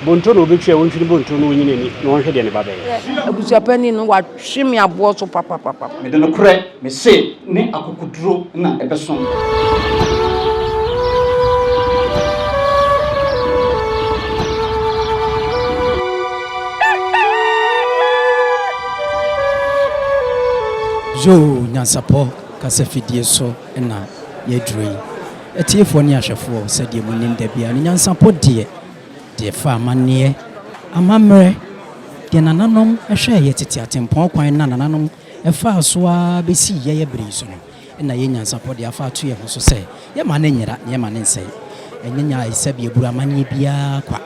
Bonto na ɔbɛtwi a ɔntwi ne bonto na ɔnyi n'ani na ɔnhwɛ deɛ ne ba bɛyɛ. Abusuapanin no, watwe me aboɔ so papapapa. Mede nokorɛ mese ne akokoduro na ɛbɛso. Yoo nyansapɔ kasa fidie so na yɛaduru yi. Atiefoɔ ne ahwɛfoɔ sɛdeɛ monim da biara no nyansapɔ deɛ de refa amanneɛ, amammerɛ, deɛ nananom hwɛɛ yɛ tete atempɔn kwan na nananom faa so ara bɛsii yɛyɛ berɛ yi so no, na yɛ nyansapɔ de afa ato yɛ ho so sɛ yɛmma no nyera na yɛmma no nsɛe. Ɛnyɛ nyaayesɛm yɛburu amanneɛ biara kwa.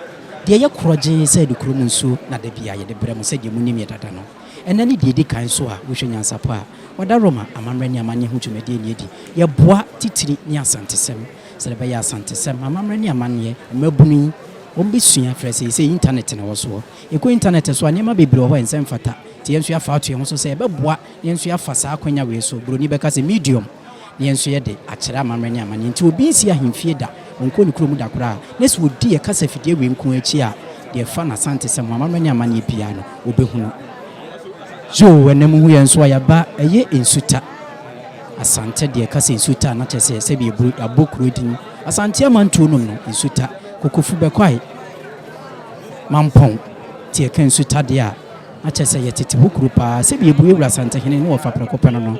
Deɛ yɛ korɔ gyee sɛ nokorɛ mu nsuo na da biara yɛde brɛ mo sɛdeɛ monim yɛ dada no. Ɛnnɛ ne deɛ ɛdi kan so a wohwɛ nyansapɔ a wɔda Roma amammerɛ ne amanneɛ ho dwumadie no adi. Yɛboa titire ne asantesɛm. Sɛdeɛ ɛbɛyɛ a Asantesɛm, amammerɛ ne amanneɛ, mmabunu yi, wɔbɛsua aferɛ sɛ seesei intanɛt na ɛwɔ soɔ. Yɛkɔ intanɛt so a, nneɛma bebree wɔ hɔ a ɛnsɛ mfata. Nti yɛn nso yɛafa ato yɛn ho so sɛ yɛbɛboa na yɛn nso yɛafa saa akwanya wei so, buroni bɛka sɛ medium, na yɛn nso yɛde akyerɛ amammerɛ ne amanneɛ. Nti obi nsi ahemfie da, ɔnkɔ ne kuro mu da koraa, na sɛ ɔdi yɛn kasafidie wei nko ara akyi a, deɛ ɛfa no Asantesɛm ho, amammerɛ ne amanneɛ biara no, ɔbɛhunu. Yoo, ɛnnɛ mohu yɛn nso a, yɛaba, ɛyɛ nsuta. Asante deɛ kasa nsu ta a na kyerɛ sɛ sɛbi ɛbɔ abɔ kuro din Asante amantuo nom no nsu ta kokofu bɛkwae mampɔn nti ɛka nsu ta deɛ a na kyerɛ sɛ yɛ tete ho kuro paa sɛbi ɛbue wura Asante hene ne wɔfa prɛko pɛ no no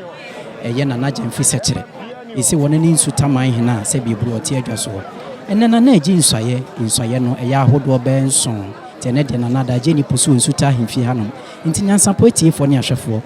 ɛyɛ nana gyamfi sɛkyerɛ ɛsi wɔne ne nsu ta man hene a sɛbi ɛbue ɔte adwa so hɔ ɛnɛ nana agye nsuayɛ nsuayɛ no ɛyɛ ahodoɔ bɛɛ nson nti ɛnɛ deɛ nana ada agye ani po so wɔ nsu ta ahemfie hanom nti nyansapɔ atiefoɔ ne ahwɛfoɔ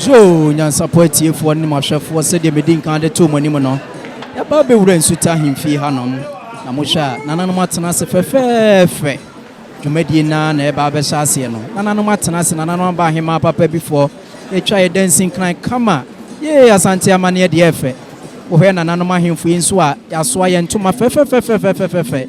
zoo nyansapɔ atiefoɔ ne mahwɛfoɔ sɛdeɛ medi nkan de too mo anim no yɛba bɛwura nsuta ahemfie hanom na mohwɛ a nananom atena ase fɛfɛɛfɛ dwumadie naa na ɛba bɛhyɛ aseɛ no nananom atena ase nananom aba ahemaa papa bifoɔ Yɛtwa yɛ dansin kran kama yee Asante amaneɛ deɛ ɛfɛ Wohwɛ nananom ahemfo yi nso a Yɛasoa yɛn ntoma fɛfɛfɛfɛfɛfɛfɛ.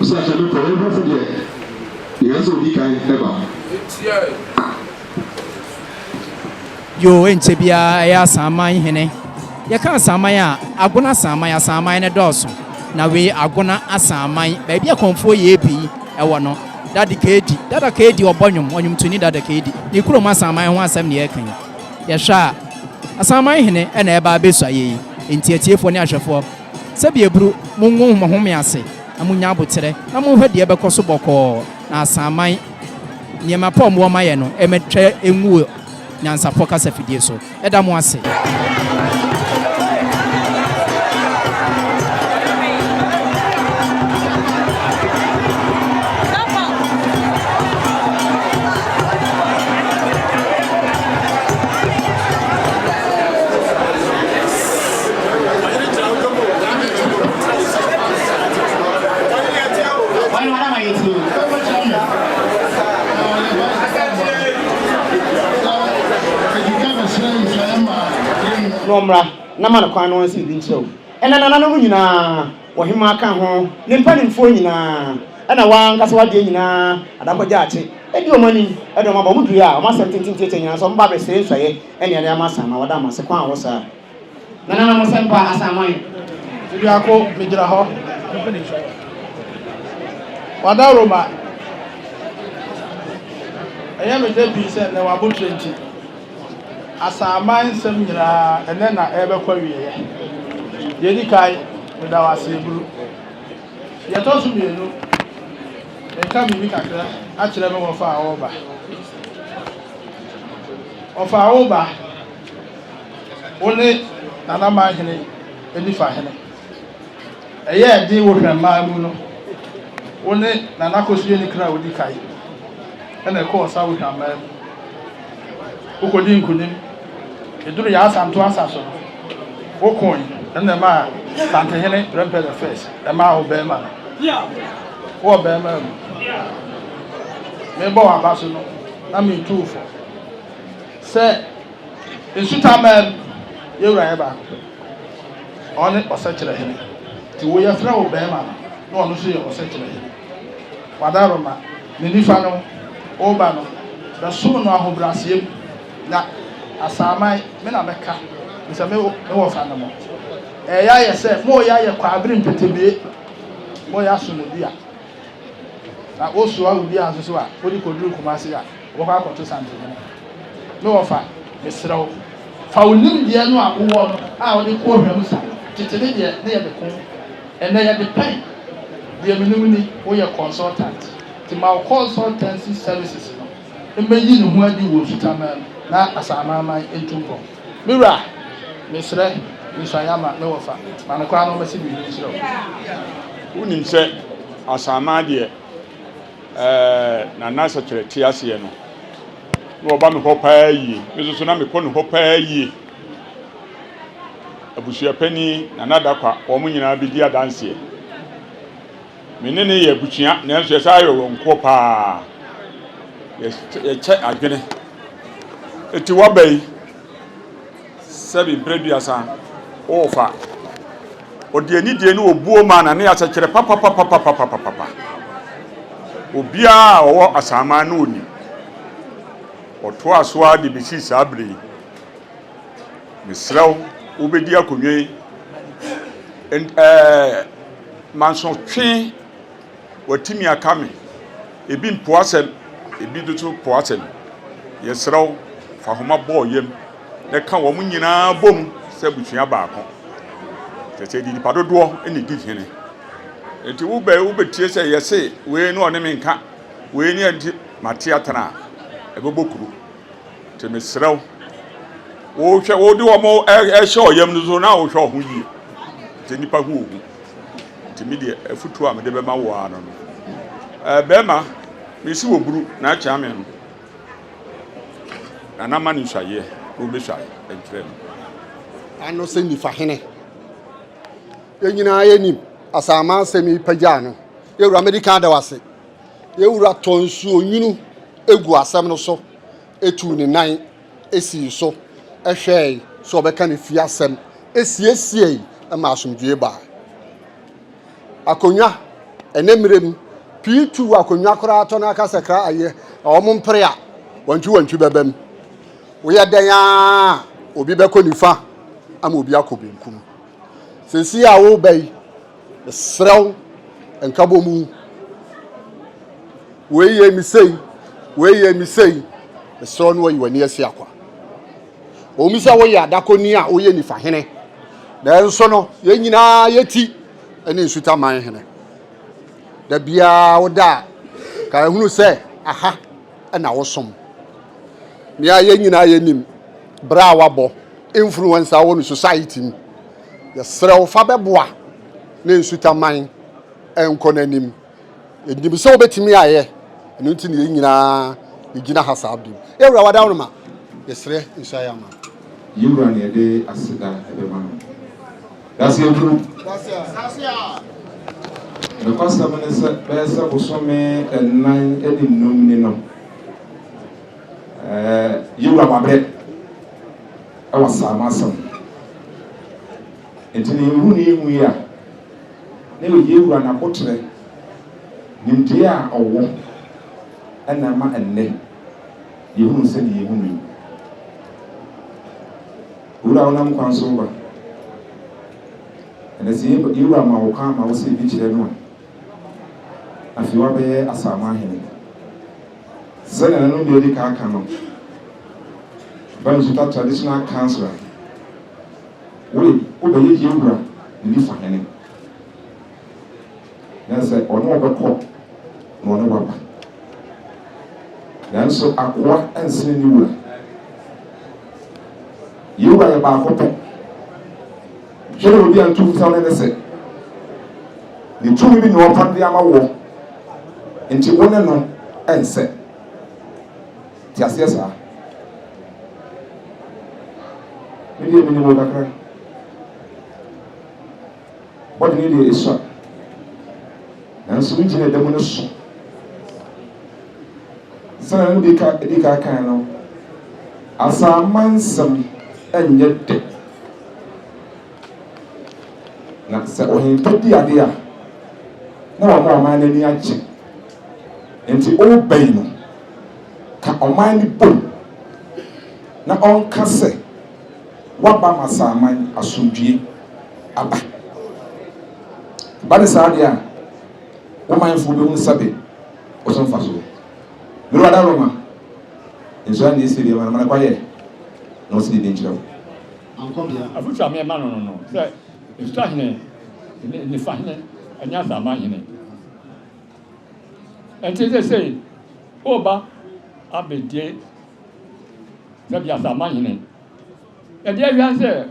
Sɛ sɛ mekɔ yɛn hwɛfo deɛ yɛyɛ sɛ odi kan ba. Yoo ɛnkyɛ biara ɛyɛ Asanman hene. Yɛka Asanman a, Agona Asanman, Asanman no dɔɔso. Na wei Agona Asanman, baabi a Kɔmfoɔ Yeebii wɔ no. Dade Kaadi, Dada Kaadi ɔbɔ nnwom, ɔnwomtoni Dada Kaadi. Ne kurom Asanman ho asɛm na yɛreka yi. Yɛhwɛ a, Asanman hene na ɛreba abɛsua yei. Enti atiefoɔ ne ahwɛfoɔ, Sɛbi aburu, mongu mo home ase na monnya aboterɛ na monhwɛ deɛ ɛbɛkɔ so bɔkɔɔ na asaman nneɛma pa a wɔwɔ mayɛ no ɛmɛtwa ngu wɔ nyansafoɔ kasafidie so. Yɛda mo ase. na ɔmmra na ma no kwan na ɔnsi biribi nkyerɛ wo. Ɛnna nananom nyinaa, ɔhemmaa ka ho, ne mpanimfoɔ nyinaa, ɛnna wɔn ankasa wɔn adeɛ nyinaa adakɔgyaakye, di wɔn anim, de wɔn aba. Wɔdurui a, wɔn asɛm tenten tiatia nyinaa sɛ wɔmmra abɛsrɛ nsuaeɛ ne adeɛ ama saa, na wɔda wɔn ase. Kwan a wɔwɔ saa. Nananom Asɛmpa Asamoah Aduako megyina hɔ Wadawuroma Ɛyɛ me dɛ pii sɛ nnɛ w'aboterɛ nti Asaman nsɛm nyinaa ɛnnɛ na ɛrebɛkɔ awieɛ Deɛ ɛdi kan meda wo ase Aburu Deɛ ɛtɔ so mmienu meka biribi kakra akyerɛ me wɔfa a ɔreba Wɔfa a woreba Wone n'anaman hene nifa hene. Ɛyɛɛ den wo hwɛmmaa mu no, wone n'anakɔsuani kra a ɔdi kae na ɛkɔɔ sa wo hwammaa mu. Wokɔdii nkonim. Ɛduru yɛn asanto asa so no, wokoe na ɛmaa Santehene Prempeh the First ɛmaa wo bɛrima no. Wowɔ bɛrima mu. Mebɔ w'aba so no, na metu wo fɔ sɛ Nsu tamaa mu, yɛn Wura yɛ baako pɛ, Ɔne Ɔsɛkyerɛhene, nti wo yɛfrɛ wo bɛɛma no, na Ɔno nso yɛ Ɔsɛkyerɛhene. W'adaaroma, Ne nifa no, wo Ba no, bɛsom no ahobrɛaseɛ mu, na Asaaman, me na mɛka, firi sɛ me me wɔfa ne mo. Ɛɛyɛ ayɛ sɛ moreyɛ ayɛ kwaabere mpetebee, moreyɛ aso no dua, na wosoa obiara nso so a, wode kɔduru Kumasi a. Wɔbɛkɔ akɔto santen no. Me wɔfa, mesrɛ wo, fa wo nimdeɛ no a wowɔ no a wode kɔ ɔhwɛ mu sa. Tete me deɛ, na yɛde ko. Ɛnnɛ, yɛde pɛn. Deɛ menim ni, woyɛ consultant, nti ma wo consultancy services no mmɛyi ne ho adi wɔ nsutamaa mu na Asamaaman ntu mpɔn. Me wura, mesrɛ, nsua yɛn ma. Me wɔfa, ma me kwan na ɔmmɛse biribi nkyerɛ wo. Wonim sɛ Asamaa deɛ, Na na sɛkyerɛ te aseɛ no, na wɔba me hɔ paa yie. Me nso so na mekɔ ne hɔ paa yie. Abusua panin na n'adakwa, wɔn nyinaa bɛdi adanseɛ. Me ne ne yɛ abusua, nanso yɛsan ayɛ wɔn nkoɔ paa. Yɛkyɛ adwene. Eti waba yi. Sɛbi mprɛduasa wɔ fa. Ɔde anidie ne obuo maa na ne asɛ kyerɛ papapapapapapapa. Obiara a ɔwɔ asaman no ɔnim. Ɔtoaa so ara de bɛsii saa berɛ yi. Mesrɛ wo, wobɛdi akonnwa yi. Ɛn ɛɛ mansotwe. Watumi aka me. Ebi mpo asɛm, ebi nso po asɛm. Yɛsrɛ wo, fa homa bɔ yam na ɛka wɔn nyinaa bom sɛ abusua baako. Kyerɛ sɛ ɛde nipa dodoɔ na ɛdi hene. Enti wobɛ wobɛtie sɛ yɛse wei ne ɔne me nka, wei ne ɛnti mate atena a, ɛbɛbɔ kuro. Nti mesrɛ wo, wohwɛ wode wɔn ɛhyɛ ɔyam no so na wohwɛ wo ho yie. Nti nipa hu wo ho. Nti me deɛ afutuo a mede bɛma wo ara no no. Ɛɛ bɛrima, mesi wɔ buru na akyea me no. Na na ma ne nsuayeɛ na wɔbɛsuae nkyerɛ no. Ano sɛ nifa hene. Yɛn nyinaa yɛnim asaama asɛm yi pagyaa no. Yɛwura medi kan da wo ase. Yɛn Wura tɔɔ nsuonwunu guu asɛm no so, tuu ne nan sii so hwɛe sɛ ɔbɛka ne fie asɛm, siesiei ma asomdwoe bae. Akonnwa, Ɛnnɛ mmere mu, pii tu akonnwa koraa tɔ na aka sɛ kra ayɛ, na wɔmpere a, wantwiwantwi bɛba mu. Woyɛ dɛn a, obi bɛkɔ nifa ama obi akɔ benkum. Seesei a woreba yi, Mesrɛ wo, nkabom wu. Wei yɛ me sei, wei yɛ me sei. Mesrɛ wo na wayi w'ani asi akwa. Ɔmu sɛ woyɛ adakɔni a woyɛ nifa hene, nanso no yɛn nyinaa yɛti ne nsutaman hene. Da biara woda a, ka ɛhunu sɛ aha na wosom. Nea yɛn nyinaa yɛnim, berɛ a wabɔ mfunu wɔn nsa wɔ no society mu, Yɛsrɛ wo fa bɛboa na nsutaman nkɔ n'anim. Yɛnim sɛ wobɛtumi ayɛ, ɛno nti na yɛn nyinaa yɛgyina ha saa bere yi. Yɛn Wura, wada wo no ma. Yɛsrɛ nhyira yɛ ama. Yɛn Wura na yɛde aseda bɛma no. Dase aduru. Dase a. Nokwasɛm ne sɛ bɛyɛ sɛ bosome nnan ne nnum ni no, Yɛn Wura, wabrɛ. Ɛwɔ saa mu asɛm no. Enti na yɛhu ne yɛnhu yi a, na ɛyɛ yɛn Wura N'aboterɛ, nimdeɛ a Ɔwɔ, ɛna ɛma ɛnnɛ yɛhu no sɛdeɛ yɛhu no yi. Owura a wonam kwan so reba, ɛnɛ sɛ yɛn Wura ma wo kwan ma wo sɛ bi kyerɛ no a, afei woabɛyɛ Asaama Hene. Sɛnea ɛno deɛ adi kan aka no, Bamisuta Traditional Councillor, wei wobɛyɛ Yewura Nilifa Hene, na sɛ ɔne wo bɛkɔ na ɔne waba. Nanso akoa nsene ne wura. Yewura yɛ baako pɛ. Hwɛ deɛ ɔdi antom fam no ne sɛ, ne tumi bi na ɔpam de ama woɔ, nti wo ne no nsɛ. Te aseɛ saa? Me deɛ menim wo kakra. Bɔde ne deɛ esua. Nanso wo gyina ɛda mu no so. Sɛnea no bi ka di ka kan no, asaamansɛm nyɛ dɛ. Na sɛ ɔhempɛ di ade a, na wama ɔman no ani agye. Enti ɔreba yi no, ka ɔman no bom na ɔnka sɛ, Woaba ma saa man yi asomdwoe aba. Ɛba no saa deɛ a, wo manfoɔ bɛhu sɛbe wo so mfasoɔ. Mede w'adaworo bɛma. Nso ɛnne sɛ deɛ manamana kwayɛ na ɔsi ne din kyerɛ wo. Ankɔbea. Afotu a mema no no no sɛ Nsutɔ hene, Nnifa hene, Nyansaman hene. Ɛnti sesei woba abɛdie sɛ Biasaman hene. Ɛdeɛ awia sɛ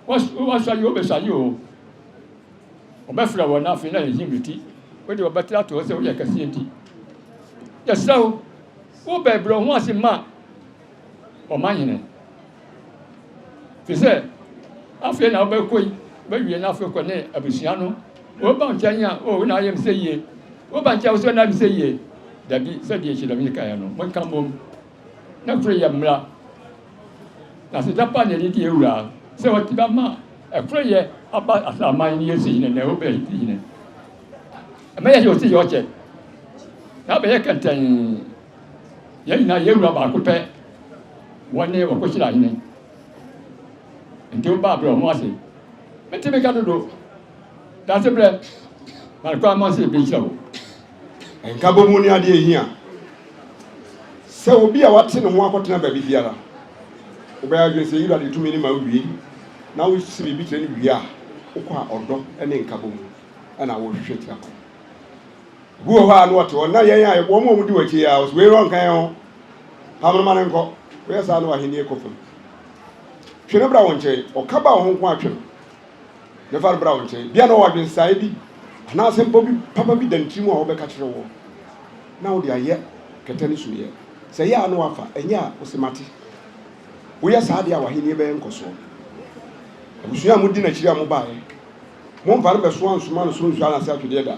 woasua yi o, wobɛsua yi o. Wɔbɛfrɛ wɔn afei na yɛnhim ne ti. Wo de wɔbɛte atorɔ sɛ woyɛ kɛseɛ nti. Yɛsrɛ wo, wo bɛ brɛ wo ho ase ma ɔman hene. Fi sɛ afei na wobɛkɔ yi, wobɛwie na afei kɔ ne abusua no. Woba nkyɛn a, o, wo na ayɛ me sɛ yie. Woba nkyɛn a, wo sɛ na ayɛ me sɛ yie. Dabi, sɛdeɛ Hyedamini kaeɛ no, monka mmom. Na koro yɛ mmra, na sɛ gyapa na yɛde di awura a, sɛ wɔte ba ma a, koro yɛ aba asaman ne yɛsi yine, na ɛwɔ bɛ yɛsi yine. Ɛmɛ yɛ yɛ ɔsi yɛ ɔkyɛ, na bɛyɛ kɛntɛn, yɛn nyinaa yɛ awura baako pɛ, wɔne wɔkɔhyira hene. Nti wo baa berɛ ɔmo ase, mete me ka dodo, danse berɛ, na kwan ma sɛ yɛbɛhyira wo. Nkabɔmu ne adeɛ a ɛhia sɛ obi a wate ne ho akɔtena baabi biara. Wobɛyɛ adwene sɛ Yudade tumi no ma wowie na wosi biribi kyerɛ no wie a, wokɔ a ɔdɔ ne nkabɔmu na wohwehwɛ tira kwan. Obi wɔ hɔ a na ɔte hɔ na yɛn a wɔn a wɔdi w'akyi a ɔsɛ wei no ɔnka yɛn ho. Pam no ma no nkɔ. Woyɛ saa na w'ahennie kɔ fam. Twe no bra wo nkyɛn. Ɔka ba wo ho nko a twe no. Mɛfa no bra wo nkyɛn. Bia na ɔwɔ adwensaɛ bi anaa asɛmpa bi papa bi da ne tirim a ɔbɛka kyerɛ woɔ na wode ayɛ kɛtɛ no sumiɛ. Sɛ ɛyɛ a na wafa, ɛnyɛ a ose mate. Woyɛ saa deɛ a w'ahennie bɛyɛ nkɔsoɔ. Abusua a modi n'akyiri a mobaaɛ, momfa no bɛsoa nsoma no soro nsuo anase atwedeɛ da.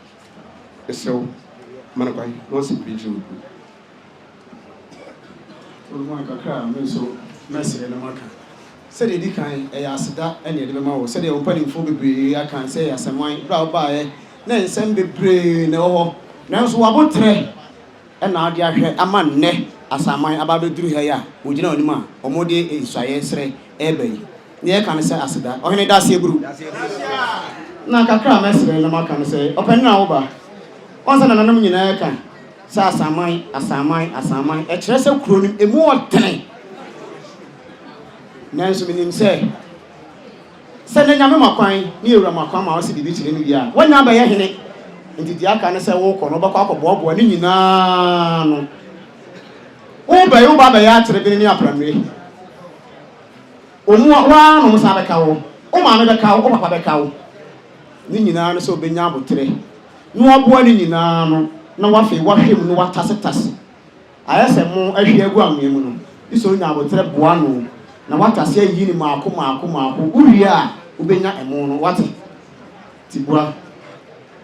Mesrɛ wo, ma no kwan na ɔnsɛ biribi nkyerɛ wo. Wode ma no kakra a, me nso mɛsrɛ na maka. Sɛdeɛ ɛdi kan, ɛyɛ aseda na yɛde bɛma wo, sɛdeɛ wo mpanimfoɔ bebree aka sɛ ɛyɛ asɛmman. Berɛ a wobaeɛ na nsɛm bebree na ɛwɔ hɔ, nanso w'aboterɛ na wode ahwɛ ama nnɛ asaman aba abɛduru ha yi a wɔgyina w'anim a wɔde nsɔeɛ srɛ reba yi. Nea ɛka ne sɛ aseda. Ɔhene daseɛ buru. Na kakra a mɛsrɛ na maka ne sɛ, Ɔpanin a wo ba, woahu sɛ nananom nyinaa reka sɛ Asanman, Asanman, Asanman, ɛkyerɛ sɛ kuro no ɛmu wɔ tene. Nanso menim sɛ, sɛ na Nyame ma kwan, ne Yɛwura ma kwan ma wo se biribi kyere no wie a, woanya abɛyɛ hene. Nti deɛ aka ne sɛ wokɔ no wobɛkɔ akɔboaboa ne nyinaa ano. Wobɛyi wo ba abɛyɛ aterebene ne apranue. Wɔn a wɔn ara na wɔn nsa bɛka wo, wo maame bɛka wo, wo papa bɛka wo. Ne nyinaa ne sɛ ɔbɛnya aboterɛ na waboa ne nyinaa ano na wafei wahwɛ mu na watasetase ayɛ sɛ mo ahwie agu anwea mu no, gye sɛ ɔnya aboterɛ boa ano na watase ayiyi no mmaako mmaako mmaako, wowie a wobɛnya ɛmo no, woate? Tibua,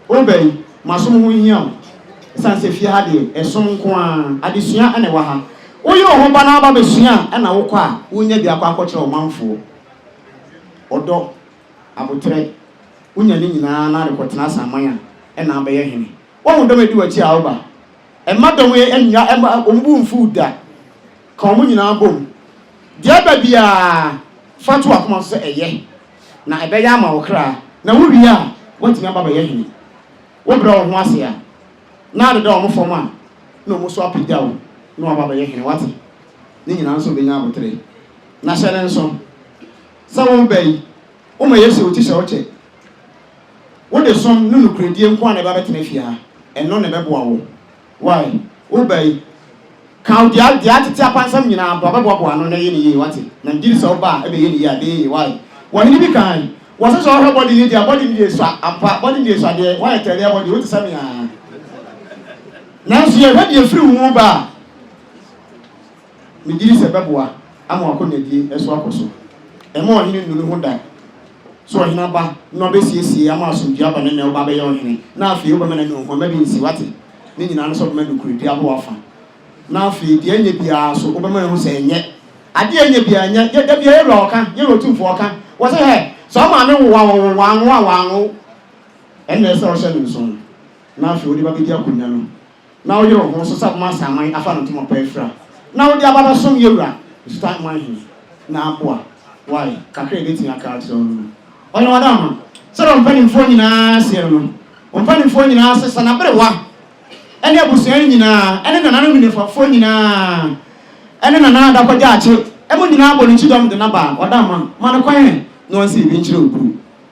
Wo ba yi, m'asom ho nhia wo esiane sɛ fie ha deɛ, ɛsom nko ara. Adesua na ɛwɔ ha. Woyɛ wo ho ba na woaba abɛsua a, na wokɔ a, wonya bi akɔ akɔkyerɛ wo manfoɔ. Ɔdɔ, aboterɛ, wonya ne nyinaa na rekɔtena asaman a, na abɛyɛ hene. Woahu dɔm a ɛdi w'akyi a woba? Mma dɔm yi nnya, mma wɔn bo mmfu wo da. Ka wɔn nyinaa bom. Deɛ ɛba biara, fa to w'akoma so sɛ ɛyɛ. na ɛbɛyɛ ama wo kra, na wowie a, woatumi aba abɛyɛ hene. Wobrɛ wo ho ase a, na adeda wɔn fam a, na wɔn nso apagya wo na wɔaba abɛyɛ hene. Woate? Ne nyinaa nso bɛnya abotere. Na hyɛ no nso sɛ woreba yi, woma Yesu yɛ wo ti hyɛ wo kyɛ. Wode som ne nokorɛdie nko ara na ɛbɛba abɛtena fie ha. Ɛno na ɛbɛboa wo. Wai, wo ba yi, ka wo dea, dea tete apansam nyinaa bra bɛboaboa ano na ɛyɛ no yie, wate, na megye di sɛ wo ba a ɛbɛyɛ no yie a ɛbɛyɛ yie, wai, wɔ hene bi kan, wɔ sɛ sɛ ɔhwɛ body yi dea, body no yɛ sua, ampa, body no yɛ sua deɛ, wai tɛɛ deɛ body, wo te sɛ me aa, nanso yɛ hwɛ deɛ firi wo mu ba a. Megye di sɛ ɛbɛboa ama w'akonyadie so akɔ so. Mma ɔhene nnu ne ho da sɛ ɔhene aba na ɔbɛsiesie ama asomdwoeɛ aba no nnɛ woba abɛyɛ ɔhene na afei wobɛma no anunhuamma bi nsi, woate? Ne nyinaa ne sɛ wobɛma nokorɛdie abɔ w'afa na afei deɛ ɛnyɛ biara so wobɛma wahu sɛ ɛnyɛ adeɛ a ɛnyɛ biara nyɛ yɛ, dabi a yɛ wura ɔka, yɛ wura otumfoɔ ɔka, wɔse hɛ, sɛ wo maame nwowa wo wo wanwo a wanwo wo, ɛnna ɛsɛ sɛ wohyɛ no nsono na afei wode ba bɛdi akonya no. na woyere wo ho so sɛ wobɛma saa man yi afa no ntɛm ɔpɛ afira, na wode aba abɛsom yɛn wura Asutan Hwan Hene na aboa wo ayɛ kakra a yɛbɛtumi aka akyerɛ wo no no? Ɔyɛ wɔn ama. Sɛdeɛ wɔn mpanimfoɔ nyinaa seɛ no no, wɔn mpanimfoɔ nyinaa sesa n'aberewa ne abusua no nyinaa ne nananom nnifafoɔ nyinaa ne nana adakɔgyaakye mu nyinaa bɔ no kyidɔm de no aba a, wɔda ama ma no kwan ɛ na ɔnsɛ biribi nkyerɛ wo bio.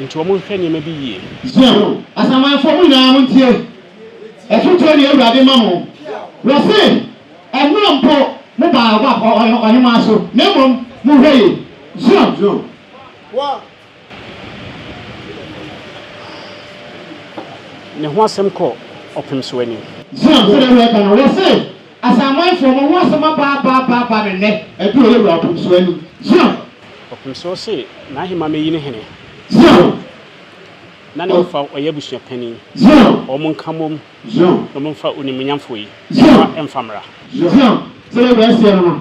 Enti wɔnhwɛ nneɛma bi yie. Zion asamanfoɔ mo nyinaa montie afotuo deɛ Awurade ma mo, wɔse, Ɛnnora mpo mo baa Moab ɔhemaa so, na mmom mohwɛ yie, Zion. Ne ho asɛm kɔ ɔpem so anim. Zion sɛdeɛ woyɛ ka no, wɔse. Asamanfoɔ, mo ho asɛm aba aba aba aba no nnɛ, aduru ɔyɛ wura ɔpomsoɔ anim. Zion. Ɔpomsoɔ se n'ahemmaa mɛyi no hene. Zion. Na ne mfa ɔyɛ abusua panin. Zion. Wɔn nka mmom. Zion. Na wɔn mfa onimuonyamfoɔ yi. Zion. Mfa mmra. Zion. Sɛ yɛ wura seɛ no no,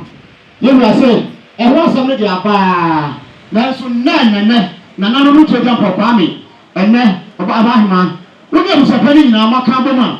yɛ wura se, ɛho asɛm no deɛ aba ara, nanso nnɛ nnɛ nnɛ, nananom retu agyampɔw, Kwame, ɛnnɛ, ɔba, ɔba ahemmaa, wo ne abusua panin nyinaa moaka abom a,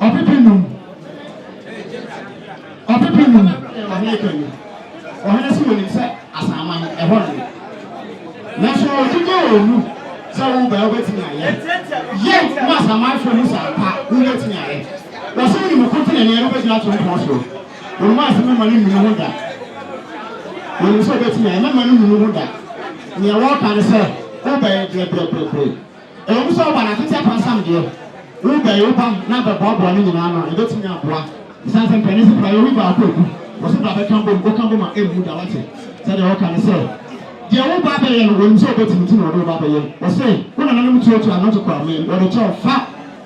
ɔpepe num ɔpepe num ɔhene ka mu ɔhene so wɔnim sɛ asaman ɛhɔ no nanso ɔdwuma wɔ mu sɛ woba wobɛtumi ayɛ yɛ ma asamanfoɔ mu sɛ ampa wobɛtumi ayɛ wɔ sɛ wonim ko te naneɛ no wobɛgyina to mpɔn so wɔnom asɛ mɛma no nnunu ho da wɔnim sɛ wobɛtumi ayɛ mɛma no nnunu ho da nea wɔka ne sɛ wobɛyɛ brɛbrɛbrɛbrɛ Ɛwɔ mu sɛ wo ba no akwati apansam deɛ, wo bɛyɛ wo ba no abɛboaboa ne nyinaa ano a, ɛbɛtumi aboa. Ɛsiane sɛ mpanin se kura yɛ wi baako a ɛgu, wɔse bra bɛka bom, woka bom a ɛmmu da, woate? Sɛdeɛ wɔka ne sɛ, Deɛ wo ba bɛyɛ no, wɔnim sɛ wobɛtumi nti na wɔde wo ba bɛyɛ. Wɔse, wo nananom tuatua nnɔte kɔ amee mu, wɔde kyɛ wo, fa!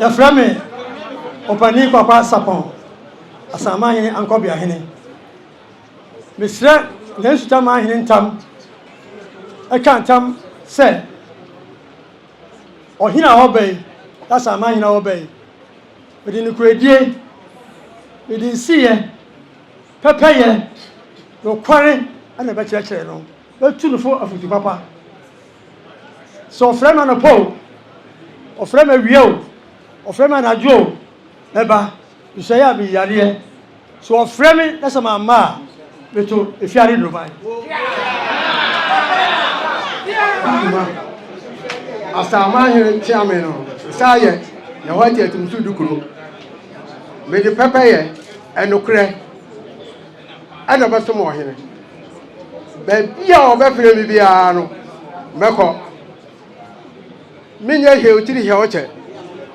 Yɛfrɛ me Opanin Kwakwa Sapɔn, Asanmanhene Ankɔbeahene. Mesrɛ yɛn Sutamanhene ntam ka ntam sɛ ɔhene a ɔba yi, Asanmanhene a ɔba yi, mede nokorɛdie, mede nsiyɛ, pɛpɛyɛ, nokware na ɛbɛkyerɛkyerɛ no, mɛtu no fo afotu papa. Sɛ ɔfrɛ me anɔpa o, ɔfrɛ me awia o, ɔfrɛ me anadwo o, mɛba. Nsɔe a meyi adeɛ. Sɛ ɔfrɛ me na sɛ mamma a, meto efiade nnoroban. Asaman hene tea me no, nsa ayɛ na hɔ ate atumtu dukuro. Mede pɛpɛyɛ, ɛnokorɛ. ɛna mɛsom ɔhene. Baabi a ɔbɛfrɛ me biara no, mɛkɔ. Menyɛ hwee otiri hɛ ɔkyɛ.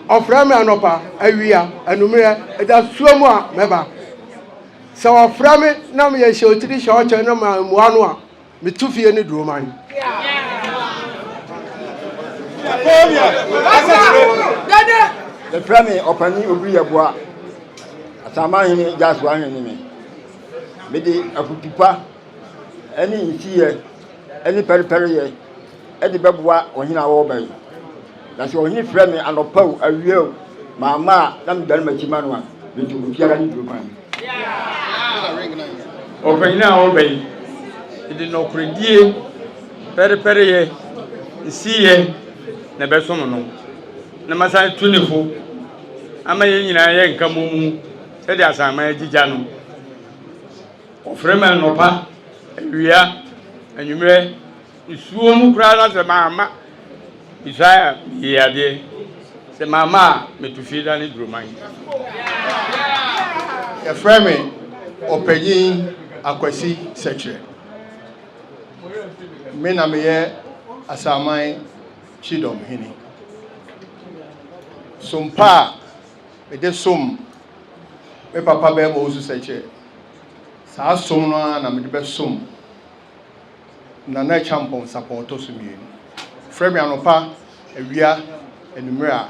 Ɔfrɛ me anɔpa, awia, anummerɛ, ɛda suo mu a, mɛba. Sɛ ɔfrɛ me na meyɛ hyɛ otiri hyɛ ɔkyɛ na mammua no a, Me to fie ne duro man. Yɛfrɛ me ɔpani obiri yɛboa asama hene gyaso ahene me mede afutupa ɛne nsiyɛ ɛne pɛrepɛreyɛ ɛde bɛboa ɔhene a wɔba yi Na sɛ ɔhene frɛ me anɔpa o, awia o, mamma a, na medane m'akyi ma no a, metu obiara ne duro kwan mu. Ɔpanyin a ɔba yi, ɛde nɔkoredie, pɛrepɛreyɛ, nsiyɛ na ɛbɛsom no, na masan tu ne fo ama yɛn nyinaa yɛ nka mmɔmu sɛdeɛ asanman agyigya no. Ɔfrɛ me anɔpa, awia, anwummerɛ. Nsuo mu koraa na sɛ mamma Isaiah yie adeɛ, sɛ mamma a metu fie dane duroman. Yɛfrɛ me Ɔpanyin Akwasi Sɛkyerɛ. Me na meyɛ Asaman Kyidɔm Hene. Som pa a mede som me papa Barima Owusu Sɛkyerɛ, saa som no ara na mede bɛsom Nana Acheampong Sapong ɔtɔ so mmienu. Frɛ me anɔpa, awia, anwummere a,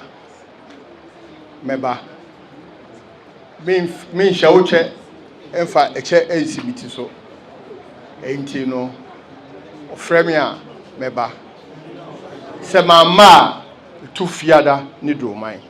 mɛba. Menf menhyɛ wo kyɛ mfa ɛkyɛ ansi me ti so. Enti no, frɛ me a, mɛba. Sɛ mamma a, to Fiada ne Duroman.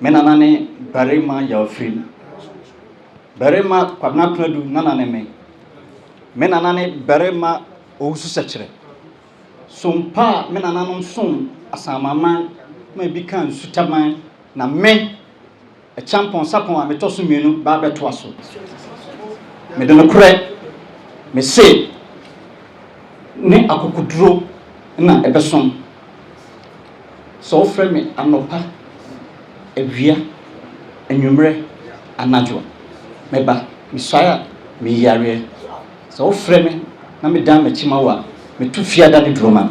Me nana ne barima Yawfirim. Barima Kwabena Kunadu nana ne me. Me nana ne barima Owusu Sɛkyerɛ. Som pa a me nananom som Asanmaman ma ebi kaa Nsutaman na me Kyampɔn sapɔn a metɔ so mmienu baa bɛtoa so. Mede nokorɛ, me se, ne akokoduro na ɛbɛsom. Sɛ wofrɛ me anɔpa, awia, anwummerɛ, anadwo a, meba. Mesuae a, meyi yareɛ. Sɛ wofrɛ me na medan m'akyi ma wo a, metu fiada ne duro ma.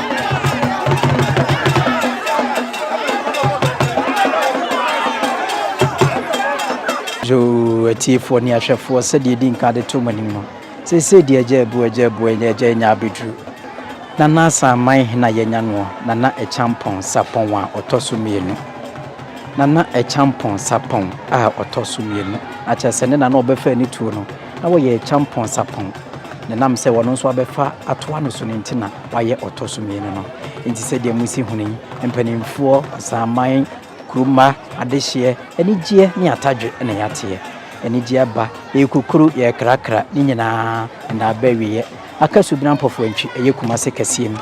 So atiefoɔ ne ahwɛfoɔ sɛdeɛ di nka de to mo anim no, seesei deɛ agya abu, agya abu, agya anya abɛduru. Nana Asaman hena yɛanya noɔ? Nana Akyampɔn Sapɔn a ɔtɔ so mmienu. Nana Akyampɔn Sapɔn a ɔtɔ so mmienu. Na kyerɛ sɛ ne nana ɔbɛfa ani tuo no, na wɔyɛ Akyampɔn Sapɔn. Ne nam sɛ ɔno nso abɛfa atoa no so no nti na. wayɛ ɔtɔ so mmienu no. Enti sɛdeɛ mosi hunu yi, mpanimfoɔ, asaman, kuruma, adehyeɛ, anigyeɛ ne atadwe na yɛateɛ. Anigyeɛ aba, yɛrekukuru, yɛrekrakra, ne nyinaa, ɛnna aba awieɛ. Aka Subena Mpɔfoantwi, ɛyɛ Kumase kɛseɛ mu.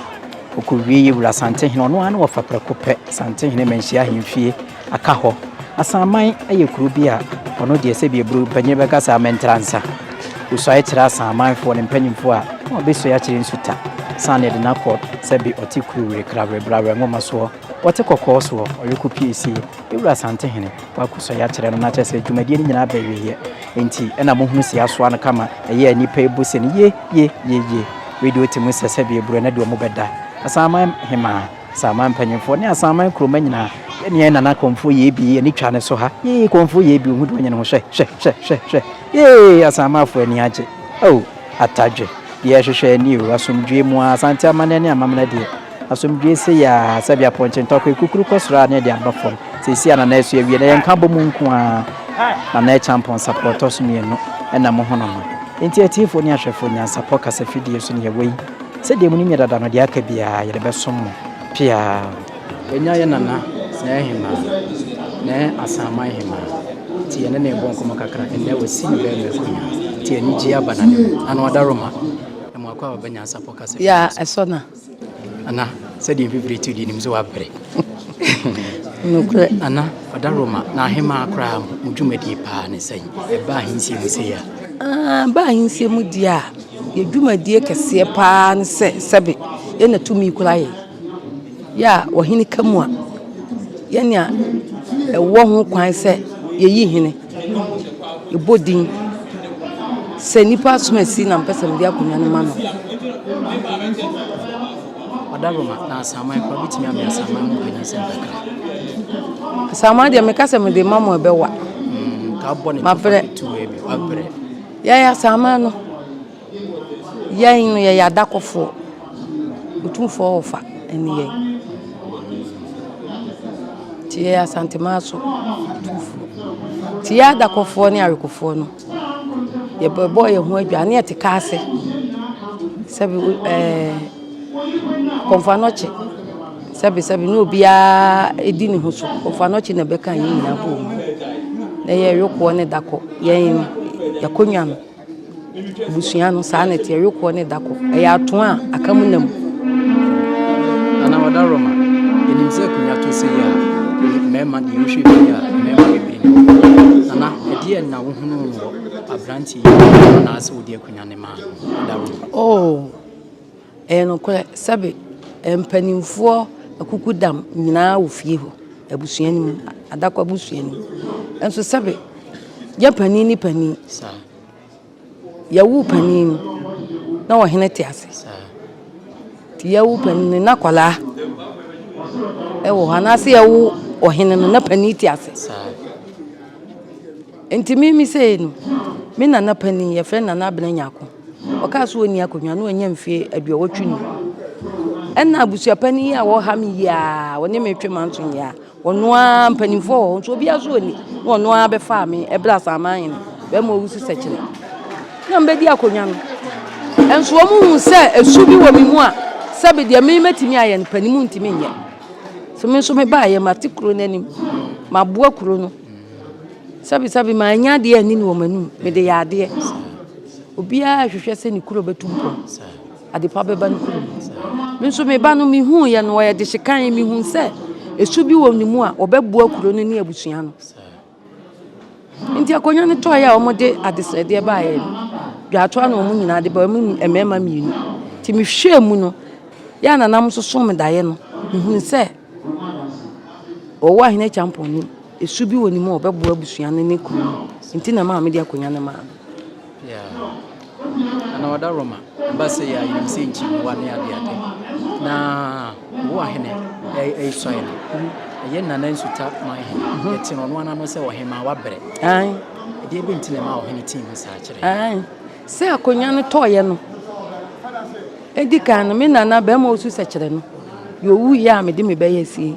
Ɔkɔwieeɛ, Wura Asantehene, ɔno ara na ɔfa prɛko pɛ, Asantehene Manhyia Ahemfie. Aka hɔ. Asanman yɛ kuro bi a ɔno deɛ sɛ bia bro panyin bɛka saa mɛntra nsa. Osuae kyerɛ asanman foɔ ne mpanyinfoɔ a na ɔbɛsuae akyerɛ nsuta saa na yɛde no akɔ sɛ be ɔte kuru were kra were bra were nwoma soɔ ɔte kɔkɔɔ soɔ ɔyɛ kɔ pie sie yɛwura asantehene wakɔ suae akyerɛ no na kyerɛ sɛ dwumadie no nyinaa aba awieɛ nti ɛna mo hunu se asoa no kama ɛyɛ a nnipa ɛbu se no ye ye ye ye wei deɛ ɔte mu sɛ sɛ bia bro ɛnɛ deɛ ɔmo bɛda asanman hemaa. Asanman mpanyimfoɔ ne Asanman kuroma nyinaa, yɛ nea Nana Komfo Yebi ani twa ne so ha. Yee, Komfo Yebi, ohu de wanyɛ ne ho hwɛ, hwɛ, hwɛ, hwɛ, hwɛ. Yee, Asanmanfoɔ ani agye. Oh, Atadwe, deɛ yɛhwehwɛ ni o, asomdwoeɛ mu ara, Asante amanneɛ ne amamena deɛ, asomdwoeɛ sei ara, sɛdeɛ apɔnkye ntɔkwa ekukuru kɔ soro ara na ɛde aba fam. Seesei a Nana asu awie no, ɛyɛ nkabɔmu nko ara. Nana ɛkyɛ ampɔnsapɔ a ɛtɔ so mmienu na mohono no. Enti atiefoɔ ne ahwɛfoɔ, nyansapɔ kasafidie so na yɛwɔ yi. Sɛdeɛ monim yɛ dada no, deɛ aka biara yɛde bɛsom mo peaa. Yɛanya yɛn nana sɛɛ hemaa, nɛɛ Asaman hemaa, nti yɛne no rebɔ nkɔmmɔ kakra, ɛnnɛ wasi ne bɛɛma akonnwa, nti anigyeɛ aba n'anim, ano ada Roma, na mmoa kwaaba ba nyansapɔ kasa firi ne so. Yaa, ɛsɔ na. Ana, sɛdeɛ mfifire tu deɛ nim sɛ woabrɛ. Nokorɛ. Ana, ɔda Roma, na ahemaa koraa mo dwumadie paa ne sɛn? Ɛba ahensie mu sei a. Aa, ɛba ahensie mu deɛ a. Yɛ dwumadie kɛseɛ paa ne sɛ sɛbe yɛ na tumi kura yɛ. Yɛ a ɔhene ka mu a, yɛ nea ɛwɔ ho kwan sɛ yɛ yi hene. Yɛ bɔ din sɛ nipa asomasi na mpɛ sɛ mede akonwa no ma no. Ɔda Roma na asaman kura bitumi amɛ asaman mu kanya sɛ kakra. Asaman deɛ meka sɛ mede ma mo ɛbɛwa. Mm, ka bɔ ne ma pere. Yɛn asaman no, yɛn no yɛyɛ adakɔfoɔ, Otumfoɔ Ɔfa ne yɛn. Nti yɛyɛ Asanteman so atumfoɔ. Nti yɛn adakɔfoɔ ne awekofoɔ no, yɛbɛbɔ yɛn ho adwaa ne yɛte kaa ase sɛ ɛɛ. Kɔmfoanɔkye, sɛbesɛbe na obiara di ne ho so. Kɔmfoanɔkye na ɛbɛka yɛn nyinaa abom. Na ɛyɛ yokoɔ ne dakɔ. Yɛn yɛakɔnwa no, abusua no saa na ɛteɛ, yokoɔ ne dakɔ. Ɛyɛ atoa a aka mu nam. Ana Ɔdaroma, ɛnim sɛ akonnwa to sei a, mmarima deɛ wohwɛ fie a, mmarima bebree na wɔwɔ. Ana ɛdeɛn na wohunuu wɔ aberanteɛ yi mu anaasɛ wode akonnwa no maa no? Ɔdaroma. Oh. Ɛyɛ nokorɛ sɛbe mpaninfoɔ akukudam nyinaa wɔ fie hɔ, abusua no mu, adako abusua no mu. Nso sɛbe yɛ panin ne panin, yɛwo panin no na ɔhene te ase. Nti yɛwo panin no na akwadaa wɔ hɔ anaasɛ yɛwo ɔhene no na panin te ase. Enti me me sei no, me nana panin, yɛfrɛ no Nana Abena Nyarko, ɔkaa sɛ ɔnni akonnwa na wanya mfie aduɔwɔtwe ni. Ɛna abusua panin yi a wɔha me yi a ɔne me twe manso yi a, ɔno ara mpanimfoɔ wɔ hɔ nso obiara so ɔni na ɔno ara bɛfaa me ɛberɛ a Asaman hene bɛrima ɔwu si sɛkyerɛ na mbɛdi akonnwa no. Ɛnso wɔn hu sɛ ɛsu bi wɔ me mu a sɛbi deɛ me mɛtumi ayɛ no panimu ntumi nyɛ. So me nso me baayɛ mate kuro no anim, maboa kuro no. Sɛbesɛbe manyɛ adeɛ anni no wɔ m'anom, mede yɛ adeɛ. Obiara rehwehwɛ sɛ ne kuro bɛtu mpɔn, adepa bɛba ne kuro mu. Me nso me ba no, mehuiɛ no, ɔyɛ dehyekan, mehu sɛ ɛsu bi wɔ ne mu a, ɔbɛboa kuro no ne abusua no. Nti akonnwa no tɔeɛ a wɔde adesrɛdeɛ baeɛ no, dwaatoa na wɔn nyinaa de baeɛ, wɔn mmarima mmienu. Nti mehwɛɛ mu no, yɛ a na nam nso so me daeɛ no, mehunuu sɛ. Ɔwɔ a Hene Acheampong nim. Su bi wɔ ne mu a ɔbɛboa abusua no ne kuro no nti na ɛma mede akonnwa no maa no. Yeah. Ana wada Roma basa ya yim se nchi wa ne ade ade. Na wo ahene ay ay soye no. Ye nana nsuta ma ahene. Mhm. Ye tino no ana no se ohema wa bere. Ay. Ade ebe ntine ma ohene tin mu sa chere. Ay. Sɛ akonnwa no tɔeɛ no, ɛdi kan no, me nana bɛrima ɔsu sɛkyerɛ no, deɛ ɔwuiɛ a mede me bɛyɛ sie.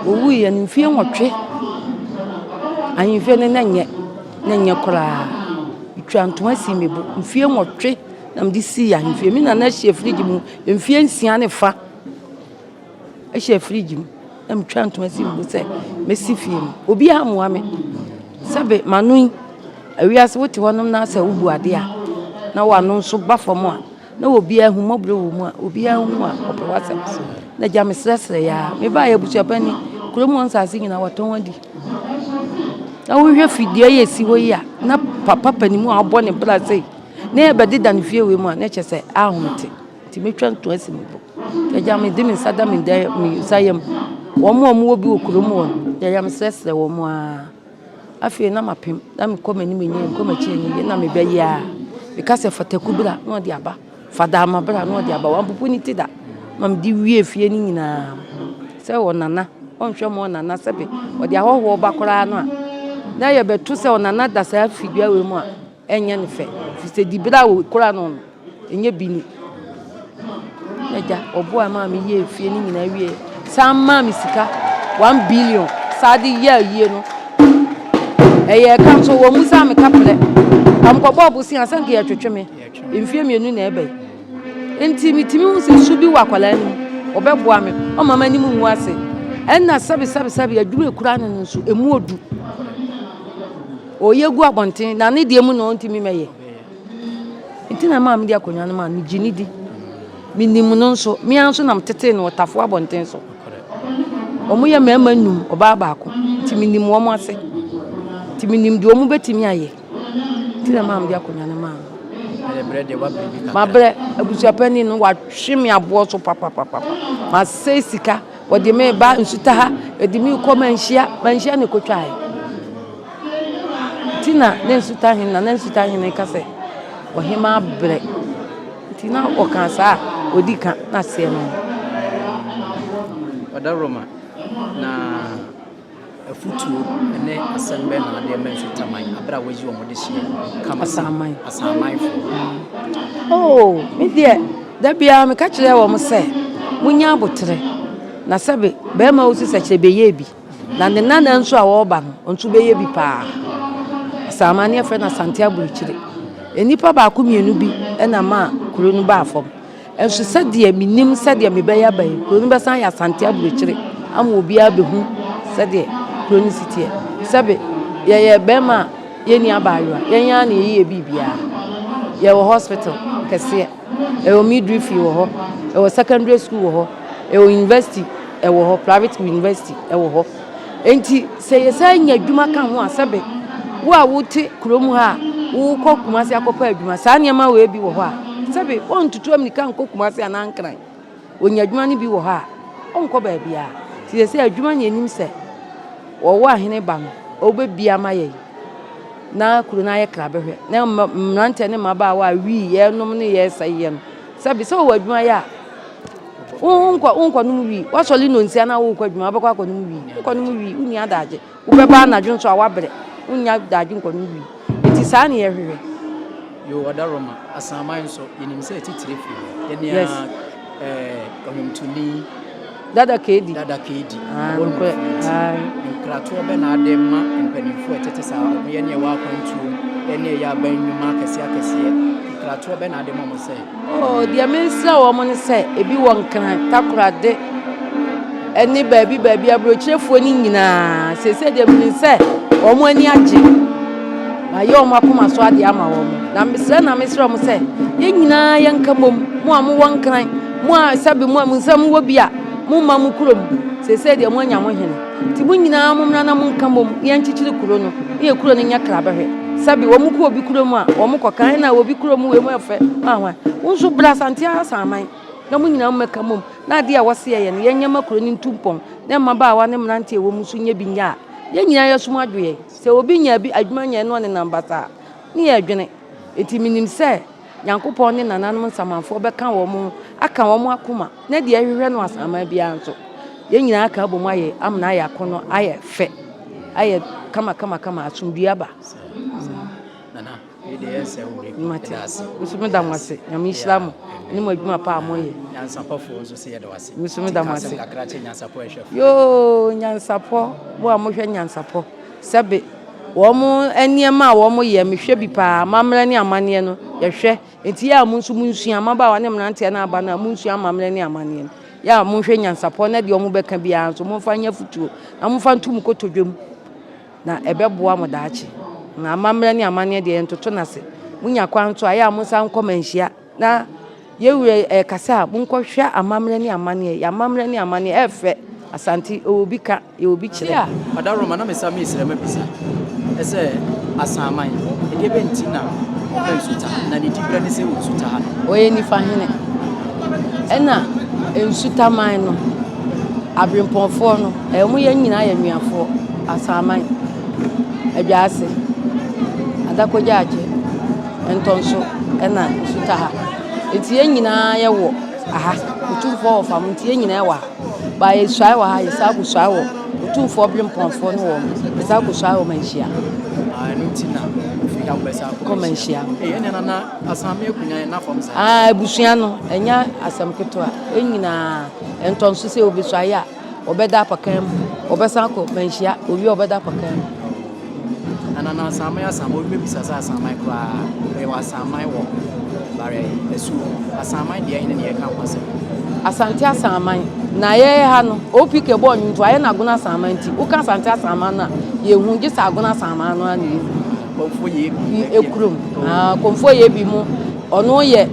Ɔwuiɛ no mfie nwɔtwe, ahemfie no na nyɛ, na nyɛ koraa. Metwa ntoma sii me bo, mfie nwɔtwe na mede sii ahemfie. Me nana hyɛ firigye mu mfie nsia ne fa. hyɛ fridge mu na metwa ntoma si mu sɛ mɛsi fie mu. Obiara mmoa me. Sɛbe m'ano yi, awia se wote hɔnom na sɛ wobu adeɛ a, na w'ano nso ba fam a, na obiara ahummɔborɔ wɔ mu a, obiara hu a ɔpɛ w'asɛm. Na gya mesrɛsrɛ yi ara. Mebaeɛ abusuapɛn ni, kurom hɔ nsase nyinaa wɔatɔn adi. Na wohwɛ fi dua yi a ɛsi hɔ yi a, na papa panin mu a wabɔ ne bra sei na ɛrebɛdeda ne fie wei mu a, na kyerɛ sɛ anhom te. Nti metwa nto asi me bo. Agya, mede me nsa da me nsa yam. Wɔn a wɔwɔ bi wɔ kurom hɔ no, yɛyɛ mesrɛsrɛ wɔn ara. Afei na mapem, na mekɔ m'anim enyi, mekɔ m'akyi enyi, na mebɛyɛ a. Meka sɛ fataku bra na ɔde aba, fadaama bra na ɔde aba. Wampopo ne ti da ma mede wie fie no nyinaa. Sɛ ɔnana, ɔnhwɛ ma ɔnana sɛbe ɔde ahɔhoɔ ba koraa no a, na yɛbɛto sɛ ɔnana da saa fidua wei mu a. Ɛnyɛ no fɛ firi sɛ dibere a wɔkura no no ɛnyɛ bi ni. N'agya ɔboa maa me yɛɛ fie no nyinaa wie san maa me sika one billion saa de yɛ ayie no ɛyɛ ɛka nso wɔn mu san me ka prɛ kamkɔbɔ ɔbosea sɛ nka yɛtwetwe me mfie mmienu na ɛbɛ nti metumi hu sɛ su bi wɔ akwadaa no mu ɔbɛboa me ɔma m'anim ngu ase ɛnna sɛbesɛbesɛbe adwuma ekura no no nso emu odu. Ɔyɛ gu abɔnten na ne deɛ mu na ɔntumi mɛyɛ. Nti na maa mede akonnwa no maa megye ne di. Menim no nso, me ara nso na metetee no ɔtafo abɔnten so. Wɔn yɛ mmarima nnum, ɔbaa baako. Nti menim wɔn ase. Nti menim deɛ wɔn bɛtumi ayɛ. Nti na maa mede akonnwa no maa no. Mabrɛ, abusuapani no, wahwe me aboɔ so papapapapa. Masɛe sika. Wɔde me reba nsutaha, wɔde me rekɔ manhyia, manhyia na ɛkɔtwaeɛ. Nti na na nsutahene na na nsutahene ka sɛ ɔhema abrɛ. Nti na ɔka saa a ɔdi ka na aseɛ no. Ɔda Roma na. Afotuo ne asɛm bɛn na wode rema Mfitaman berɛ a woayi wɔn dehyeɛ kama sɛ Asamanfoɔ? Oh, me deɛ, da biara meka kyerɛ wɔn sɛ, monyɛ aboterɛ. Na sɛbe bɛrima wo sisakyerɛ bɛyɛɛ bi, na ne nana nso a wɔreba no, ɔno nso bɛyɛ bi paa. Asaman ne yɛfrɛ no Asante Aburukyire. Nnipa baako mmienu bi na ma kuro no baa fam. Nso sɛdeɛ mennim sɛdeɛ mebɛyɛ aba yi, kuro no bɛsan ayɛ Asante aburokyire ama obiara abɛhu sɛdeɛ kuro no si teɛ. Sɛbe, yɛyɛ bɛrima a yɛnni abaayewa, yɛn ara na yɛyɛ yɛ biribiara. Yɛwɔ hospital kɛseɛ, ɛwɔ midwifery wɔ hɔ, ɛwɔ secondary school wɔ hɔ, ɛwɔ university wɔ hɔ, private university wɔ hɔ. Enti sɛ yɛsan nya adwuma ka ho a, sɛbe wo a wote kurom ha a wokɔ Kumasi akɔpɛ adwuma, saa nneɛma wei bi wɔ hɔ a, sɛbe wɔntutu ammirika nkɔ Kumasi anaa Nkran. Wɔnya adwuma no bi wɔ hɔ a, ɔnkɔ baabiara. Nti yɛ sɛ adwuma na yɛnim sɛ wɔwɔ ahene ba no, ɔbɛbi ama yɛn na kuro no ayɛ krabɛhwɛ na mmeranteɛ ne mmabaawa a wii yɛnom ne yɛsɛeɛ no Sɛbi, sɛ wowɔ adwuma yɛ a, wonkɔ wonkɔnom wii. Woasɔre nnɔnsia na worekɔ adwuma, wobɛkɔ akɔnom wii. Wonkɔnom wii, wonni adagye. Wobɛba anadwo nso a, woabrɛ. Wonnya adagye nkɔnom wii. Enti saa na yɛhwehwɛ. Yoo, ɔda Roma asaman so. Yenim sɛ atitire fi hɔ. Yɛne a, Yes. ɛɛ, ɔnwomtoni. Dada Kadi. Dada Kadi. Ah, nokorɛ. Ae. Nkratoɔ bɛ na ade ma mpanimfoɔ ɛtete saa wɔn yɛ ne ɛwɔ akwantuo ɛne ɛyɛ aban nnwuma akɛseɛ akɛseɛ. Nkratoɔ bɛ na ade ma wɔn sɛ. Oh, deɛ mensrɛ wɔn ne sɛ ebi wɔ nkran takorade ɛne baabi baabi aburokyerefoɔ ne nyinaa sese deɛ menim sɛ wɔn ani agye mayɛ wɔn akoma so adeɛ ama wɔn na mesrɛ na mesrɛ wɔn sɛ yɛn nyinaa yɛnka mmom mo a mowɔ nkran Mo a sɛbe mo a mo nsa mu wɔ bi a, momma mo kurom, seesei deɛ moanya ho hene. Enti mo nyinaa mommra na monka mmom na yɛnkyekyere kuro no, na yɛn kuro no nyɛ krabɛhwɛ. Sɛbe wɔkɔ obi kurom a, wɔkɔka, Ɛnna a obi kurom wei mu yɛ fɛ, hwan hwan. Wo nso bra Asante Asaman, na mo nyinaa mommɛka mmom, na adeɛ a wɔse yɛyɛ no, yɛnyɛ mma kuro no ntu mpɔn, na mmabaawa ne mmeranteɛ a ɛwɔ mu nso nyɛ bi nyɛ a, yɛn nyinaa yɛn asom adwo yɛn. Sɛ obi nya bi adwuma nyɛ na ɔnenam basaa a, ne yɛn adwene. Enti menim sɛ. Nyankopɔn ne nananom nsamanfoɔ bɛka wɔn ho aka wɔn akoma na deɛ ɛhwehwɛ no asaman biara nso yɛn nyinaa aka abom ayɛ amena ayɛ akɔnɔ ayɛ fɛ ayɛ kama kama kama asomdue aba nso meda mo ase nyame nhyira mo ne mo adwuma pa a moyɛ nso meda mo ase yoo nyansapɔ mo a mohwɛ nyansapɔ Sɛbe, wɔn nneɛma a wɔn yɛ, me hwɛ bi paa, amammerɛ ne amanneɛ no, yɛ hwɛ. Enti yɛ a mo nso mo nsua, mmabaawa ne mmeranteɛ ne aba no a, mo nsua amammerɛ ne amanneɛ no. Yɛ a mo nhwɛ nyansapɔ na deɛ wɔn bɛka biara nso mo nfa nyɛ afutuo, na mo nfa nto mo kotodwe mu. Na ɛbɛ boa mo daakye. Na amammerɛ ne amanneɛ deɛ yɛn toto n'ase. Mo nya kwan nso a, yɛ a mo nsa nkɔ manhyia. Na yɛ wura ɛkasa a, mo nkɔ hwɛ amammerɛ ne amanneɛ. Yɛ amammerɛ ne amanneɛ, ɛfɛ. Asante, ɔwɔ bi ka. Yɛ obi kyerɛ. Tia ɔdawuroma na mesa me srɛ ma bisa sɛ asanman ɛdeɛ bɛ nti na ɔpɛ nsuta ha na ne di berɛ ne sɛ nsuta ha no. Ɔyɛ nifa hene ɛna nsuta man no abrempɔnfoɔ no ɛyɛ ɔmo yɛ nyinaa yɛ nuafoɔ asanman adwaase adakogyaagye ntɔnso ɛna nsuta ha nti yɛ nyinaa yɛ wɔ aha otumfoɔ wɔ fam nti yɛ nyinaa yɛ wɔ ha. Ba yɛsuae wɔ ha, yɛsan akɔsuae wɔ Otumfoɔ Berempɔnfoɔ ne wɔn, yɛsan akɔsuae wɔ Manhyia. Ah, ɛno nti na ofi ha bɛsa kɔ Manhyia. Ee, ɛnna na na Asame akunya yɛn n'afam saa. Ah, abusua no, ɛnyɛ asɛm ketewa. Ɛn nyinaa, ɛntɔnso sɛ wɔbɛsuae a, wɔbɛda apakan mu, wɔbɛsan akɔ Manhyia, wɔwie a wɔbɛda apakan mu. Nanana asaman yɛ asaman obi bɛbisa sɛ asaman koraa yɛwɔ asaman wɔ bare asuo asaman deɛ ɛne ne yɛka ho asɛm. Asante asaman na yɛyɛ ha no OPK bɔɔ nnwonto ayɛ no agono asaman nti woka asante asaman no a yɛhu gye sɛ agono asaman no a na yɛhu. Kɔmfoɔ yɛ ebi. Ekurom. Ah, kɔmfoɔ yɛ ebi mu ɔno yɛ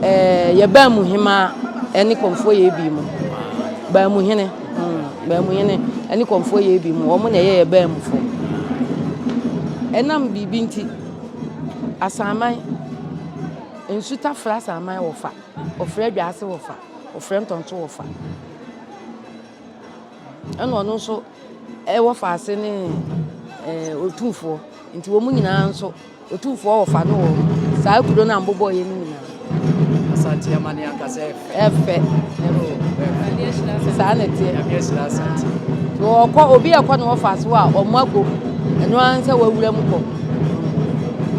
ɛɛ yɛ baamu hemaa ɛne kɔmfoɔ yɛ ebi mu baamu hene. Baamuhene ne Kɔmfoɔ yɛ bi mu, wɔn na ɛyɛ yɛ Baamufoɔ. Ɛnam biribi nti, Asanman, Nsuta frɛ Asanman wɔfa, wɔfrɛ Adwaase wɔfa, wɔfrɛ Ntɔnto wɔfa. Ɛna ɔno nso wɔfa ase ne Otumfoɔ, nti wɔn nyinaa nso. Otumfoɔ wɔfa no wɔ saa kuro no a mbobɔɔyɛ no nyinaa. Asante amane ankasa ɛfɛ. Ɛfɛ. Ɛfɛ. Saa na ɛteɛ. Nyame ahyira Asante. So ɔkɔ obi ɛkɔ ne wɔfa so a ɔmo ago ɛno ara nsɛ wɔawura mu kɔ.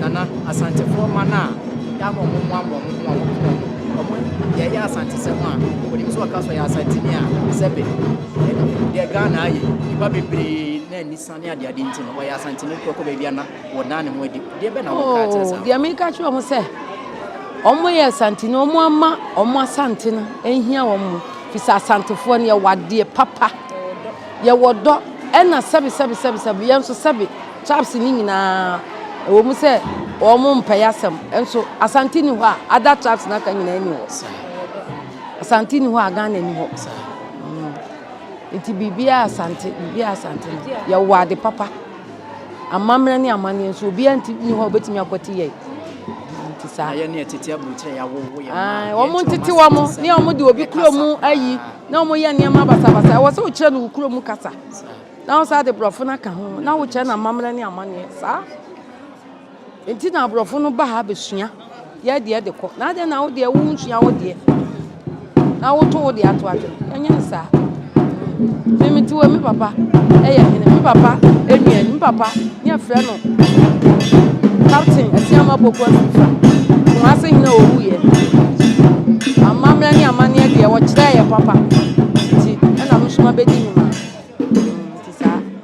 Nana Asantefoɔ ma no a yɛama ɔmo mmoa mmoa ɔmo ho ɔmo ho ɔmo ɔmo yɛyɛ Asante sɛm a onim sɛ ɔka so yɛ Asanteni a sɛbe deɛ Ghana ayɛ nipa bebree na anisane adeade nti no wɔyɛ Asanteni korɔ kɔ baabi ana Wɔdaa ne ho adi. Deɛ bɛ na wɔn kaa kyerɛ saa? Deɛ meka kyerɛ wɔn sɛ, wɔn yɛ asante no, wɔn ama wɔn asante no nhia wɔn mu. Fisɛ asantefoɔ no yɛwɔ adeɛ papa, yɛwɔ dɔ, ɛna sɛbe sɛbe sɛbe sɛbe yɛn nso sɛbe tribes ne nyinaa ɛwɔ mu sɛ wɔn mpɛ yɛ asɛm nso asante ni hɔ a ada tribes n'aka nyinaa ni hɔ asante ni hɔ a Ghana ni hɔ nti biribiara asante biribiara asante no yɛwɔ ade papa. Amammerɛ ne amanneɛ nso, obiara nti nni hɔ a obetumi akwati yɛn. Nti saa. Ayɛ ne ɛtete aburokyerɛ yɛ awowo yɛn mmaa. Wɔn ntete wɔn ne wɔn de obi kuro mu ayi na wɔn yɛ nneɛma basabasa. Ɛwɔ sɛ wokyerɛ no wo kuro mu kasa na wosan de borɔfo no aka ho na wokyerɛ no amammerɛ ne amanneɛ saa. Nti na abrɔfo no ba ha besua yɛ deɛ de kɔ na adɛn na wo deɛ wo nsua wo deɛ na wo to wo deɛ ato adwene ɛnyɛ ne saa me me te wɔ me papa ɛyɛ hene me papa ɛnua me papa ne ɛfrɛ no captain ɛsɛ ama poku afifa wɔn ase hene owu yɛ amammerɛ ne amanneɛ deɛ wɔkyerɛ yɛ papa nti ɛna mesoma bɛdi ne ma nti saa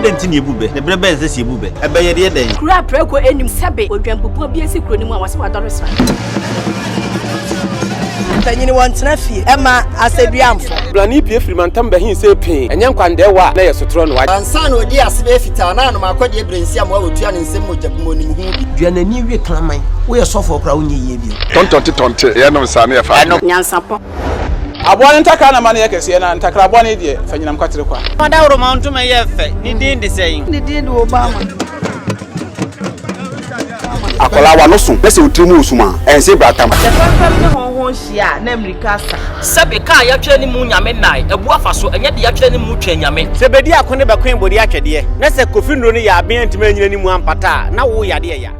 Adɛn nti na yɛbu bɛ? Ne berɛ bɛn sɛ sɛ yɛbu bɛ? Ɛbɛyɛ deɛ dɛn? Kuro a prɛko nnim sɛbe odwanpopua bi asi kuro no mu a wɔse wadɔre sra. Mpanyin wɔ ntena fie ɛma asɛduamfo. Brane pie firi mantam bɛhen see pee, ɛnyɛ nkwandɛɛ wɔ a na ɛyɛ sotorɔ noa. Ansa na ɔdii ase bɛyɛ fitaa na anom akɔdeɛ brensiam a ɔtua ne nsam mogya gu mu ɔnim ho bi. Dua n'ani we kraman. Woyɛ sɔfoɔ koraa a wonyɛ yie bio. Tɔntɔnte tɔnte, yɛ nom saa na yɛ fa adeɛ. Nyansapɔ. Aboa no ntakra na ma no yɛ kɛseɛ na ntakra aboa no yi deɛ fa nyinam kwatere kwa. Fa daworomaw ntoma yɛ fɛ, ne din de sɛn? Ne din de Obama. Akwadaa wa no so na sɛ otiri mu wɔ sum a, ɛnse bra tam. Sɛ fɛmfɛm ne hɔnhɔn hyia a, na mmirika asa. Sɛbe kaa yɛatwerɛ ne mu Nyame nnae, abu afa so, ɛnyɛ de yɛatwerɛ ne mu Twɛn Nyame. Sɛ bɛdi ako ne bɛkoe bode atwɛdeɛ, na sɛ Kofi Nnuro no yɛ aben antumi anyina ne mu ampata a, na wo yade ɛya.